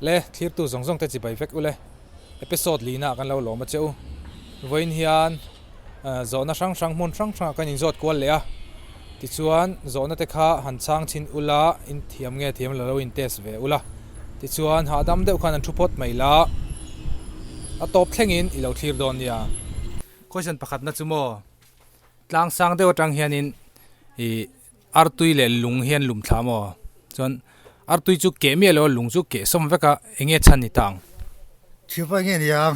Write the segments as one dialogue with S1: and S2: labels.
S1: Le thlirtu zawng zawng te chi bai vek ule episode lihna ah kan lo lawm a che u vawiin hian zawhna hrang hrang hmun hrang hrang ah kan in zawt kual leh a. Tichuan, zawhnate kha han chang chhin ul a, in thiam nge thiam la lo in test ve ula. Tichuan, hahdam deuh khan an thu phawt mai la, a tawp thlengin i lo thlir dawn nia. Question pakhatna chu maw, tlang sang deuh atang hianin i artui leh lung hian lum thla maw? Chuan, artui chu keh miah lo a, lung chu keh sawm vek a, enge chhan ni ta ang? Thil pawi nge ni ang?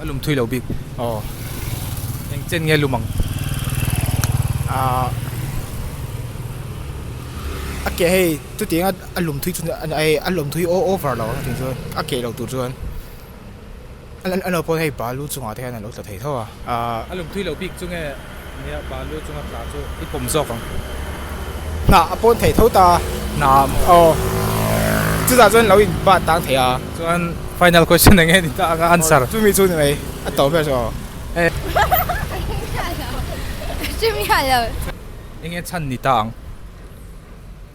S1: A lum thui lo bik aw eng chen nge lum ang ahh a ke hei chutianga a lum thui chu a hei a lum thui aw over lo ang tih chuan a ke lo tur chuan a naupang hei balu chungah te hian an lo tla thei tho a ahh a lum thui lo bik chu nge. Nia balu chunga tla chu i pawm zawk ang. Hnah a pawn thei tho ta. Hna aw chutah chuan lo in bat tang thei a. Chuan final question enge ni ta anga answer. Aw chumi chu ni mai a tawm ber chu aw engemaw chumi a lo. Enge chhan ni ta ang.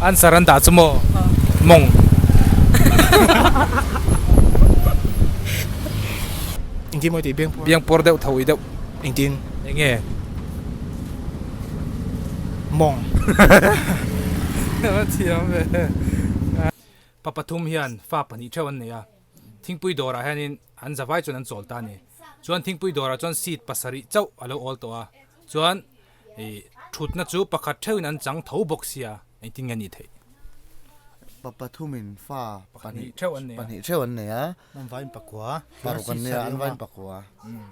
S1: Answer an dah chu maw? Mawng. Engtin maw tih biang pawr? Biang pawr deuh tho i deuh. Engtin? Eng nge? Mawng. Thiam ve. Pa pathum hian fa pahnih theuh an nei a. Thingpui dawrah hianin an zavai chuan an chawl ta a ni. Chuan thingpui dawrah chuan seat pasarih chauh a lo awl tawh a, chuan thutna chu pakhat theuhin an chang tho bawk sia engtin nge a nih theih. Pa pathum in fa pahnih theuh an nei a. An vain pakua. An vain pakua.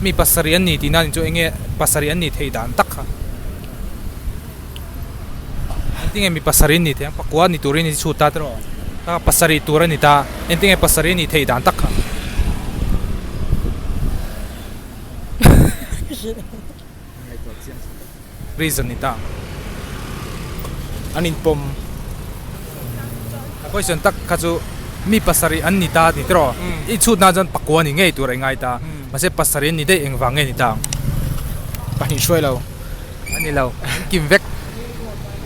S1: Mi pasarih an ni tih nan in chu eng nge pasarih an ni theih dan tak kha An ti nge mi pasarih an ni theih ang pakua ni turin i chhut ta tiraw a pasarih tur a ni ta en ti nge pasarih a ni theih dan tak kha Ngaihtuah chiang chhuak. Reason ni ta an inpawm. Question tak kha chu mi pasarih an ni ta ni tiraw? I chhut nan chuan pakua ni ngei tur a ingai ta. Mahse pasarih an ni daih engvang nge ni ta ang? Pahnih hruailo. Ani lo, an kim vek.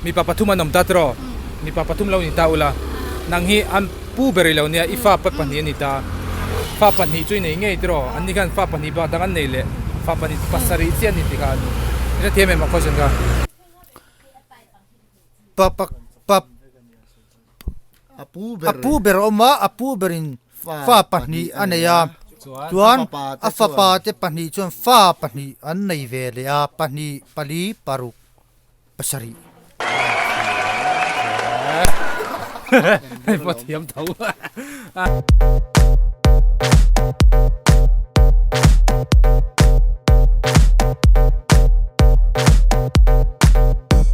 S1: Mipa pathum an awm ta tiraw? Mipa pathum lo ni ta ula, nang hi an pu ber ilo nia, i fa pat pahnih an ni ta. Fa pahnih chu i nei ngei tiraw? An ni khan fa pahnih bak dang an nei le, fa pahnih chu pasarih chiah an ni ti kha an i hrethiam em a question kha? A pu ber a awm a, a pu ber in fa pahnih a nei a, chuan a fapa te pahnih chuan fa pahnih an nei ve leh a, pahnih, pali, paruk. Pasarih. Hei pathiam tho.